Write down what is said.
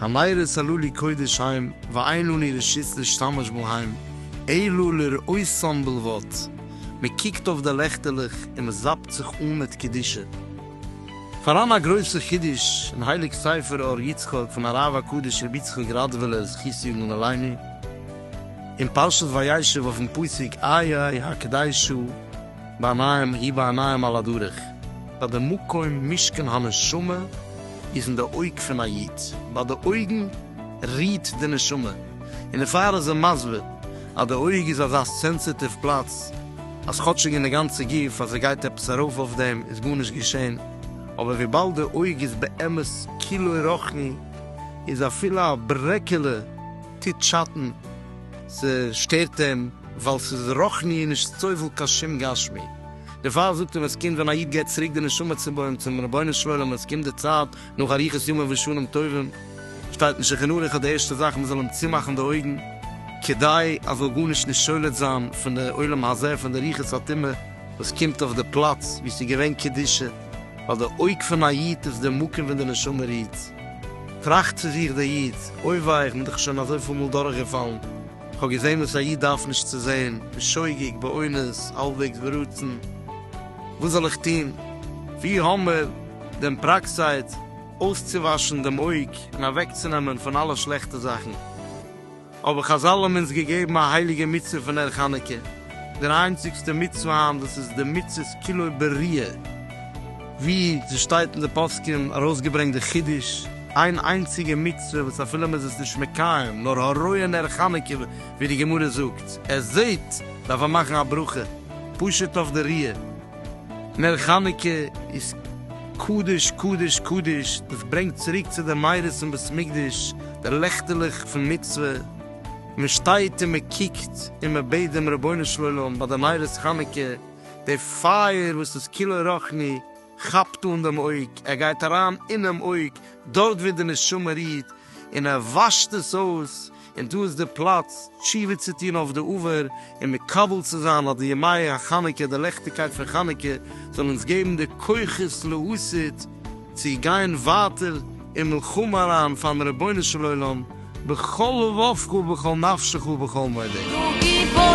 הנערה צלו לי קודש היים ואין אני ראשית להשתמש בו היים אלא לראותם בלבד, מען קוקט אויף די לעכטעלעך און מען זאפט זיך אן מיט קדושה. פאראן א גרויסע חידוש אין הייליג ספר אור יצחק פון הרב הקדוש רבי יצחק ראדווילער זכות יגן עלינו אין פרשת וישב אויפן פסוק איה הקדשו, בעניים היא בעניים על הדרך, ביי די מקום משכן הנשמה איז אין די אויג פון א איד, ביי די אויגן רוהט די נשמה, און דערפאר איז ער מסביר אז די אויג איז אזא סענסיטיוו פלאץ אז כאטשיג אין די גאנצע גוף אז עס גייט עפעס ארויף אויף דעם איז גארנישט געשען, אבער וויבאלד די אויג איז באמת כולו רחני איז אפילו א ברעקעלע טוט שאטן, ס'שטערט אים ווייל ס'איז רוחני און נישט סובל קיין שום גשמי. דערפאר זאגט ער ווען ס'קומט ווען א איד געבט צוריק די נשמה צום בוים צום רבונו של עולם ווען ס'קומט די צייט נאך אריכות ימים ושנים טובים שטייט אין שולחן ערוך אז די ערשטע זאך מ'זאל אים צומאכן די אויגן כדי ער זאל גארנישט נישט שולט זיין פון די עולם הזה פון די ריחות הטומאה וואס קומט אויף די פלאץ ווי ס'איז געווען קדושה ווייל די אויג פון א איד איז די מקום ווען די נשמה רוהט. טראכט צו זיך דער איד, אוי וויי, איך בין דאך שוין אזויפיל מאל דורכגעפאלן, איך האב געזען וואס א איד דארף נישט צו זען, בשוגג, באונס, האלבוועגס ברצון, וואס זאל איך טון? ווי האמער דען פראקסייט אויסצואוואשן דעם אויג און אוועקצונעמען פון אלע שלעכטע זאכן? אבער חזל האבן אונז געגעבן א הייליגע מצוה פון נר חנוכה, דער איינציגסטע מצוה היינט וואס איז די מצות כולו בריאה, ווי ס'שטייט אין די פוסקים ארויסגעברענגט די חידוש, איין איינציגע מצוה וואס אפילו מ'איז עס נישט מקיים נאר הרואה נר חנוכה ווי די גמרא זאגט ער זעהט דארף ער מאכן א ברכה פשוט אויף די ריאה. נר חנוכה איז קדוש קדוש קדוש, דאס ברענגט צוריק צו די מאורות אין בית מקדש, די לעכטעלעך פון מצוה, מען שטייט און מען קוקט און מען בעט דעם רבונו של עולם ביי די נרות חנוכה, די פייער וואס איז כולו רוחני כאפט אן דעם אויג, ער גייט אריין אינעם אויג דארט ווי די נשמה רוהט און ער וואשט עס אויס, און דא איז די פלאץ תשובה צו טון אויף די עבר און מקבל צו זיין אז די ימי החנוכה די לעכטיגקייט פון חנוכה זאל אונז געבן די כוחות להסית צו גיין ווייטער אין מלחמה אריין פארן רבונו של עולם בכל לבבך ובכל נפשך ובכל מאודך. דו גיבור